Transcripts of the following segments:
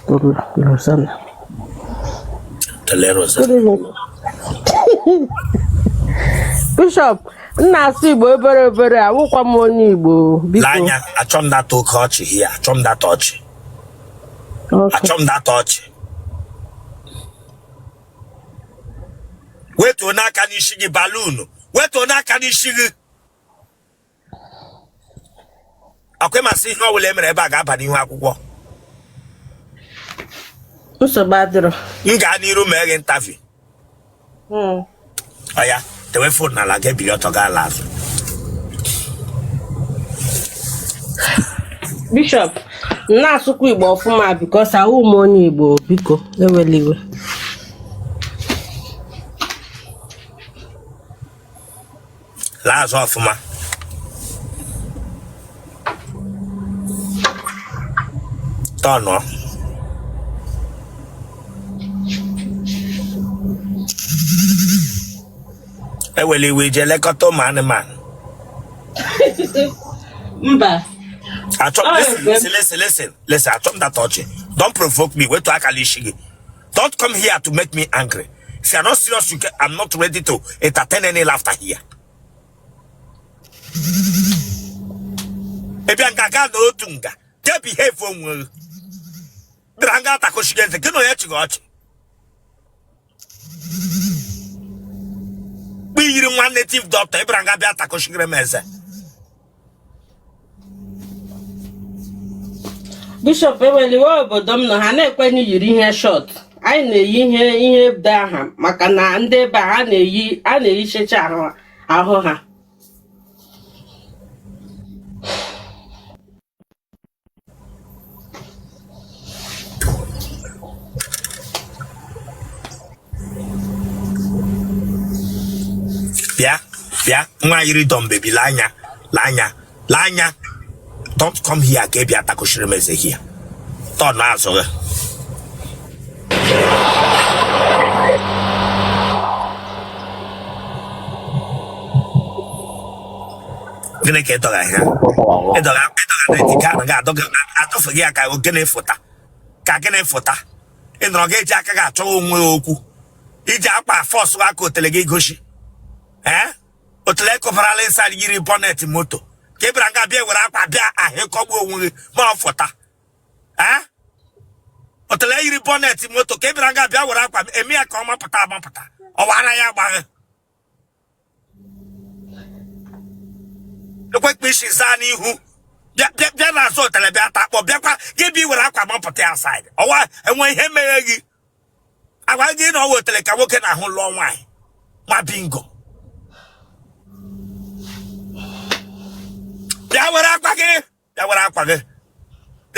Rosan. Bishọp na-asụ Igbo obere obere awụkwa m onye Igbo biko. Lee anya achọ m that oke ọchị here achọ m that ọchị. Achọ m that ọchị. Wetuo n'aka n'isi gị baluunu wetuo n'aka n'isi gị. ọ kwa ị ma sị ihe ọbụla e mere ebe a ga-aba n'ihu akwụkwọ nsogbu adịrọ m gaa n'iru mee gị interview hmm. oya dewe phone n'ala ga ebili ọtọ gaa ala azụ bishọp na-asụkwa igbo ọfụma because awụ m onye igbo biko ewele iwe laa azụ ọfụma tọnụọ ewele iwe ije lekọta ụmụ anụmanụ mba achọ Ọ listen bụ- listen listen listen listen achọ m that ọchị don't provoke me wetu aka n'isi gị Don't come here to make me angry. If you are not serious, you can, I'm not ready to entertain any laughter here. Ị bịa nga ga-anọ otu nga, jee behave onwe gị. Bịara nga atakọchighị eze, gị na onye chịga ọchị. Mgbe i yiri nwa native doctor, ị bịara nga bịa atakọchighịrị m eze. bishọp ewele iwe obodo m nọ ha na-ekwe na i yiri ihe short anyị na-eyi ihe ihe ebe aha maka na ndị ebe a na-eyi a na-eyichecha ahụ ahụ ha bịa bịa nwa yiri doll baby lee anya lee anya lee anya don't come here ka ị bịa takọchiri m eze here turn azụ gị gịnị ka ị dọga ihe ị dọga na ejike ahụ ga-adọfe gị ya ka gịnị fụta ka gịnị fụta ị nọrọ gị eji aka gị achọghị onwe ya ọ kwa i ji akpa fọsụ aka otele gị gosi ee otele kụbarala inside yiri bonnet moto ka ị bịara nga bịa were akpa bịa ahụ ịkọgbu onwe gị ma ọ fụta ee otele yiri bonnet moto ka ị bịara nga bịa were akpa eme ya ka ọ mapụta amapụta ọ wara ya agbaghị ekwekpe isi zaa n'ihu bịa n'azụ otele bịa ta akpọ bịakwa gị bịa were akwa mapụta ya side ọwa enwe ihe mere gị a gwa gị na ọ wụ otele ka nwoke na-ahụ lụọ nwaanyị nwa bingo bịa were akwa gị ya were akwa gị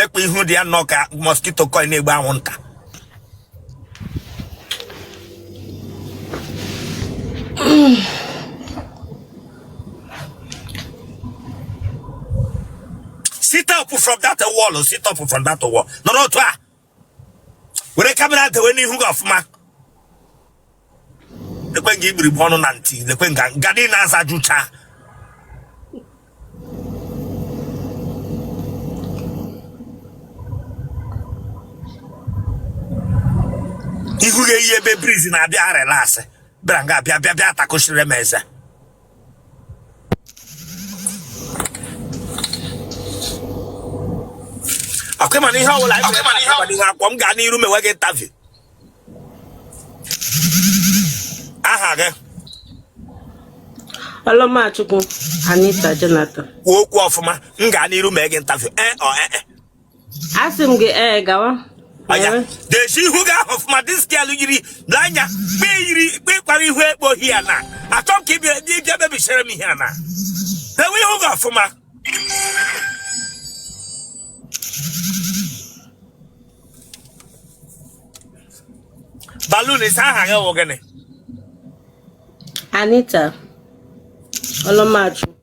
ekpu ihu dị ya nnọọ ka mosquito coil na-egbu anwụnta sit up from that wall sit up from that wall nọrọ otu a were kamera dewe n'ihu gị ọfụma lekwe nga igbirigbe ọnụ na ntị lekwe nga nga dị na-aza jụcha ihu ga-eyi ebe breeze na-abịa relax bịara ngaa bịa bịa bịa takụchiri m eze ọkwa ị ma na ihe ọbụla anyị mere na ihe akpọ m gaa n'iru mewe gị interview aha gị Ọlọmachukwu Anita Jonathan. kwuo okwu ọfụma m gaa n'iru mee gị interview ee ọ ee asị m gị ee gawa anya dezie ihu gị ahụ ọfụma diskelu yiri na anya kpe yiri kpe ịkwara ihu ekpo hi ya na achọ m ka ị bịa- ị bịa mebichere m ihe a na dewe ihu gị ọfụma balun ị sị aha gị wụ gịnị anita ọlọmachu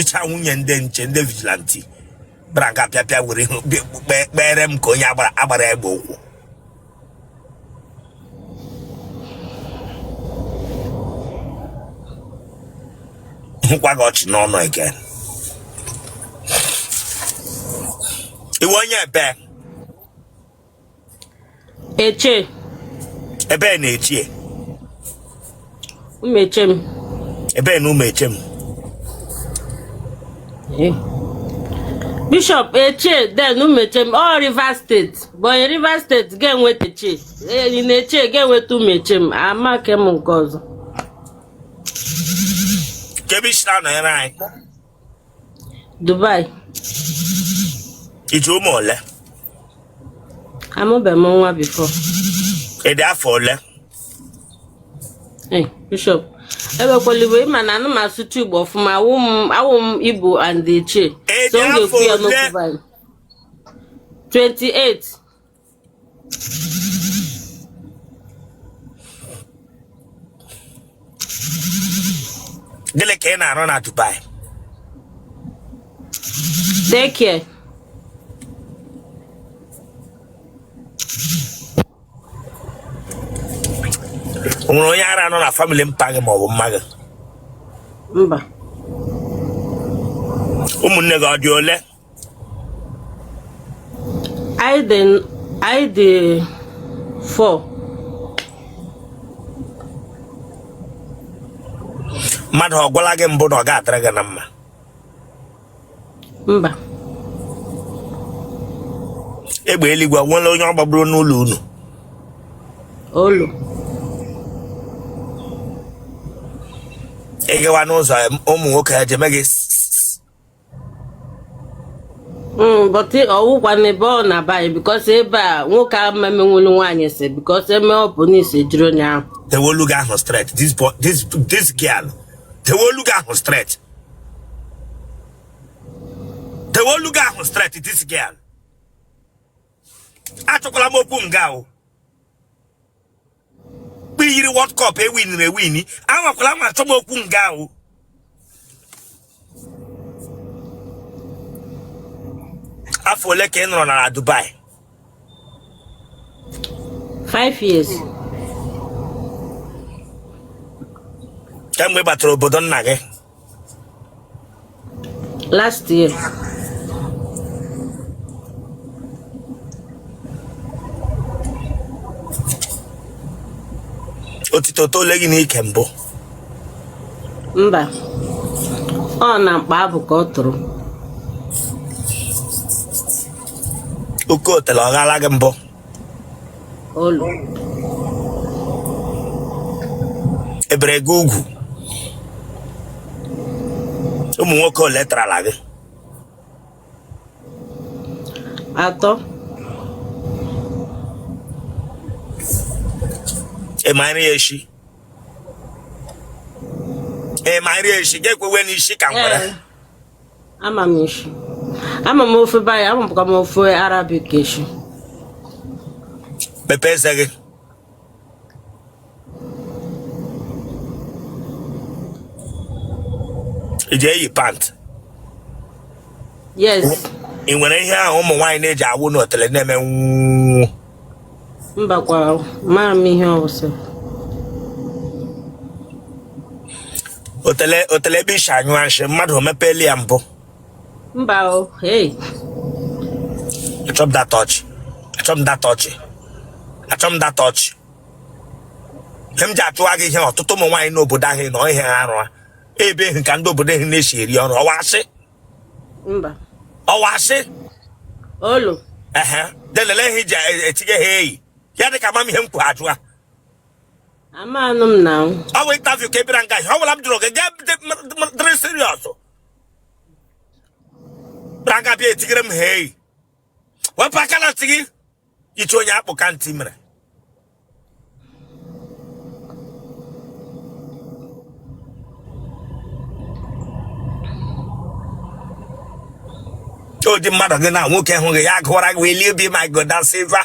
icha nwunye ndị nche ndị vigilanti bịara ngaa pịa pịa were ihu bịa- kpe- kpere m ka onye agbara agbara egbe ụkwụ hụkwa gị ọchị n'ọnụ again ị wụ onye ebe Etche ebee na Etche Umuechem ebee na Umuechem eh. bishọp Etche then Umuechem ọ Rivers State bụ onye Rivers State ga-enweta Etche eh, in Etche ga-enweta Umuechem amaghị m nke ọzọ kee ebe i si na-anọnyere anyị Dubai i ji ụmụ ole amụbeghị m nwa before ị dị afọ ole Hey, bishop ebekwalibo ị ma na anaghị m asụtụ igbo ọfụma awụ m awụ m igbo and Etche Ị so dị m ga-ekwu ya afọ n'okwu ole? Bible. 28 gịnị ka ị na-arụ na Dubai daycare o nwere onye ara nọ na family mpa gị maọbụ mma gị mba ụmụnne gị ọ dị ole anyị dị anyị dị four mmadụ ọ gwala gị mbụ na ọ ga-adịrị gị na mma mba egbe eluigwe nwere onye ọ gbagburu n'ụlọ unu olo ịgawa n'ụzọ ụmụ nwoke ha jeme gị Mm, but ọwụkwa n'ebe ọ na-aba anyị because ebe a nwoke a mmemenwulu nwaanyị si because eme ọ bụ n'isi jiri onye ahụ tewolu gị ahụ straight this boy this this girl tewolu gị ahụ straight tewolu gị ahụ straight this girl achọkwala m okwu nga o mgbe ị yiri World Cup e winiri ewini anwakwala anwa achọ m okwu nga ahụ afọ ole ka ị nọrọ na Dubai five years kemgbe ị batara obodo nna gị last year otito tole gị n'ike mbụ mba ọ na mkpa abụ ka o toro oke otele ọ ghala gị mbụ e bere gị ugwu ụmụ nwoke ole tarala gị atọ ị ma nri eshi ị ma nri eshi gị ekwewe n'isi ka ngwere ama m eshi ama m ofe baya ama bụkwa m ofe Arabic eshi mepee eze gị ị ji eyi pant yes ị nwere ihe ahụ ụmụ nwaanyị na-eji awụ n'otele na-eme nwụọ mbakwa mara m ihe ọwụsị otele otele ebe i si anyụ nshị mmadụ o mepeela ya mbụ mba o hey achọm dat ọchị achọm dat ọchị achọm dat ọchị ihe m ji achụwa gị ihe ọtụtụ ụmụ nwaanyị n'obodo ahụ nọ ihe ha rụa ebe ehi ka ndị obodo ehi na-esi eri ọrụ ọ wụ asị mba ọ wụ asị olu ehe delele ihe i ji etinye ha eyi ya dị ka m ma ihe m kwụ ajụa amanụ m na ọ bụ interview ka ị bịara nga ọ bụla m jụrụ gị ga-adịrị serious bịara nga bịa etigere m hei wepụ aka na ntị gị ichi onye akpụ ka ntị mere ụdị mmadụ gị na nwoke hụ gị ya gụwara gị welie obi ma gold ma silver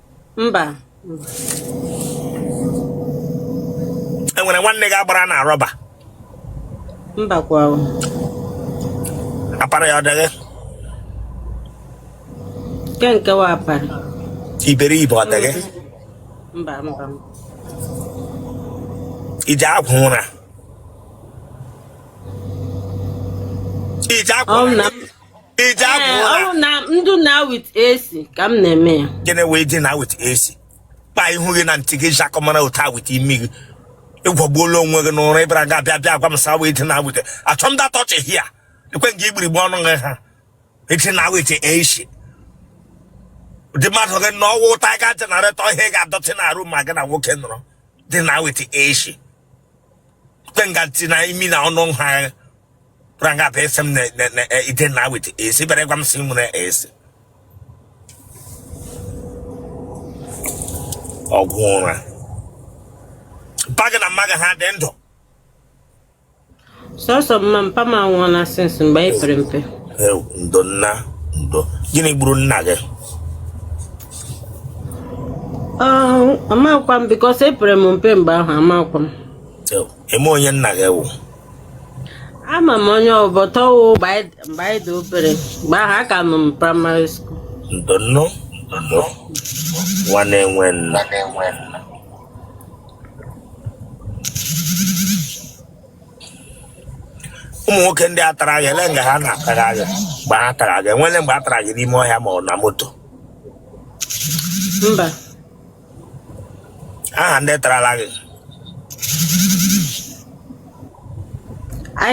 mba e nwere nwanne gị agbara na rọba mba kwa apara ya ọ dịghị nke nke wụ apara iberibe ọ dịghị mba mba i je agwọ ụra i je agwọ ụra i je Ee, abụ ọ bụ na m dina with AC ka m na-eme ya gịnị wụ dina with AC kpa ihu gị na ntị gị ji akọmara otu a with imi gị ị gwọgbuola onwe gị n'ụra ị bịara nga a bịa bịa gwa m sị wee dina with achọ m dat ọchị here lekwe nga igbirigbe ọnụ gị ha i dina with AC ụdị mmadụ gị na ọ wụ Tiger generator ihe ị ga-adọtị na arụ ma gị na nwoke nọrọ dina with AC lekwe nga ntị na imi na ọnụ ha kwara nga pe sem ne ne ne eh, i dina with AC bịara gwa m sị m ọ wụ AC ọgwọ ụra mpa gị na mma gị ha dị ndụ sọsọ mma mpa m anwụọna since mgbe anyị pere mpe ndo nna ndo gịnị gburu nna gị amakwa m because epere m mpe mgbe ahụ amakwa m ị ma onye nna gị wụ ama m onye ọ wụ but ọ wụ mgbe anyị dị obere mgbe ahụ aka nọ m primary school ndonụ ndonụ nwa na-enwe nna ụmụ nwoke ndị a tara gị ele nga ha na-atara gị mgbe ha tara gị e nwele mgbe a tara gị n'ime ọhịa ma ọ na moto mba aha ndị tarala gị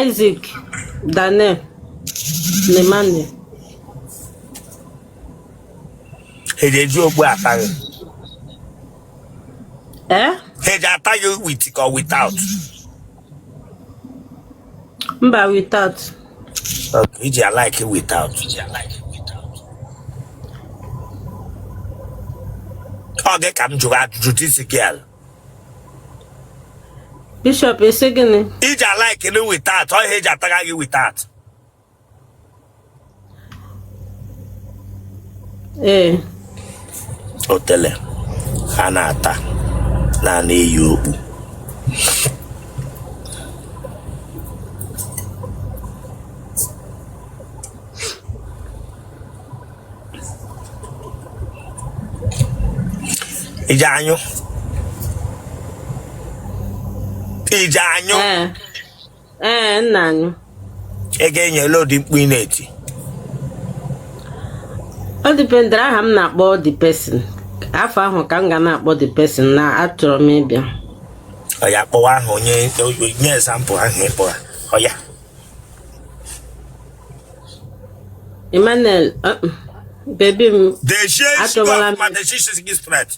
Isaac Daniel na Emma ha eji eji okpu ata gị ee ha eji ata gị with ka ọ without Mba without. Okay, iji alike without. Iji alike without. Ọ gị ka m jụrụ ajụjụ tie isi gị ala. Bishop esi gịnị? Iji alike na without, ọ ihe eji ataga gị without. ee otele a na-ata na a na-eyi okpu iji anyụ iji anyụ ee ee nna anyị ị ga-enye ele ụdị mkpu ị na-eti ọ dịpendere aha m na-akpọ the person afọ ahụ ka m ga na-akpọ the person na achọrọ m ịbịa oya kpọwa aha onye nye example aha ị kpọ ha oya emmanuel uh, uh, baby m dejie achọwala m ma dejie isi gị straight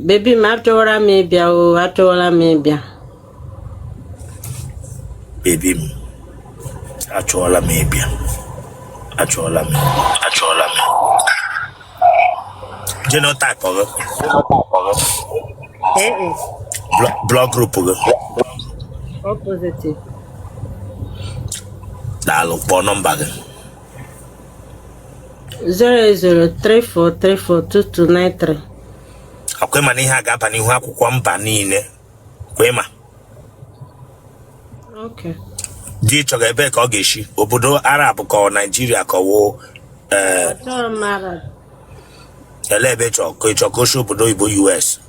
baby m achọwala m ịbịa o achọwala m ịbịa baby m achọọla m ịbịa achọọla m achọọla m genotype gị blood group gị daalụ kpọọ nọmba gị 08034342293 ọkwa ịma na ihe a ga-aba n'ihu akwụkwọ mba niile ọkwa ịma okay di ị chọga ebee ka ọ ga-esi obodo arab ka ọ naijiria ka ọ wụ ee chọrọ m arab ele ebe ị chọ ka ị chọ ka o si obodo oyibo us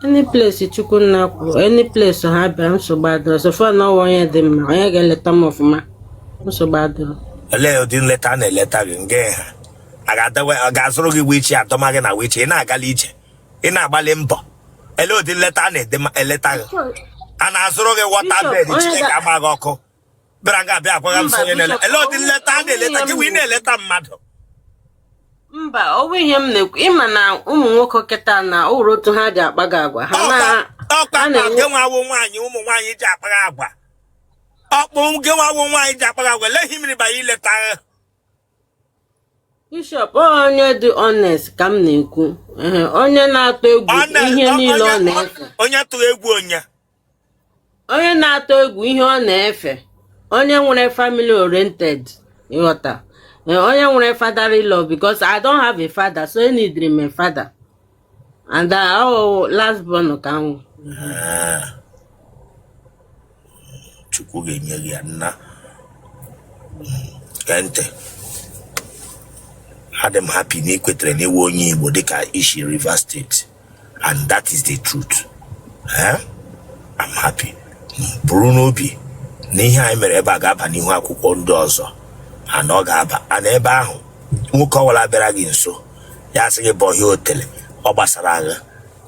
any place chukwu nna kwuru any place ha bịa nsogbu adịrọ so far na ọwa onye dị mma onye ga-eleta m ọfụma nsogbu adịrọ olee ụdị nleta a na-eleta gị nge ha a ga-adawe ọ ga-azụrụ gị wheelchair adọma gị na wheelchair ị na-agali ije ị na-agbalị mbọ olee ụdị nleta a na-eleta gị a na-azụrụ gị water bed Bishop, onye chineke ga-agba gị ọkụ bịara aga abịa agwaghị m Mba, sị onye na-ele Bishop, ele ụdị nleta a na-eleta gị wee na-eleta mmadụ mba ọ bụ ihe m na-ekwu ịma na ụmụ nwoke kịta na o nwere otu ha ji akpaga agwa ha na ọkpa a na-enwe- nke nwawo nwaanyị ụmụ nwaanyị ji akpara agwa ọkpụ nke nwawo nwaanyị ji akpara agwa lehi mmiri banye ileta Bishop ọ onye dị honest ka m na-ekwu Ehe, onye na-atụ egwu Ọ na- ihe ọ- niile ọ onye- na-efe onye tụrụ egwu onye onye na-atụ egwu ihe ọ na-efe onye nwere family oriented ị ghọta eh, onye nwere fatherly love because I don't have a father so eneedrị m a father and uh, oh, last born ka m wụ. chukwu ga-enye gị ya nna hmm, gee ntị adị m happy na ị kwetara na ị wụ onye Igbo dịka i shi Rivers State and that is the truth Eh? I'm happy buru n'obi na ihe anyị mere ebe a ga-aba n'ihu akwụkwọ ndị ọzọ and ọ ga-aba and ebe ahụ nwoke ọwụla bịara gị nso ya sị gị bọhie otele ọ gbasara agha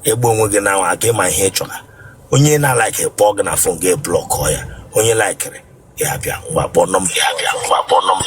egbu onwe gị na aka ị ma ihe ị chọrọ onye na-alaikị kpọọ gị na phone gị blọkọ ya onye laikiri ya bịa ngwa kpọọ nọmba ya bịa ngwa kpọọ nọmba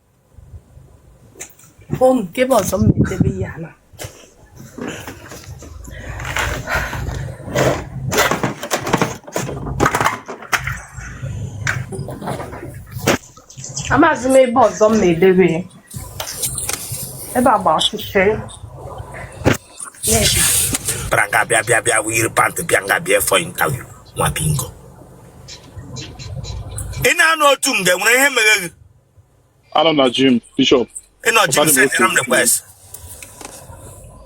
hụ nke ebe ọzọ m na-edebe ihe a na amaghịzi m ebe ọzọ m na-edebe ya. ebe a gba ọchịchịrị n'ebe Pranga bịa bịa bịa yiri pant bịa nga bịa for interview nwa bingo. Ị na-anụ otu nge nwere ihe mere gị. Anọ m na gym, Bishop. Ị nọ gym pụtara m send otu m otu. request.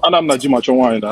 Anọ m na gym achọ nwaanyị na.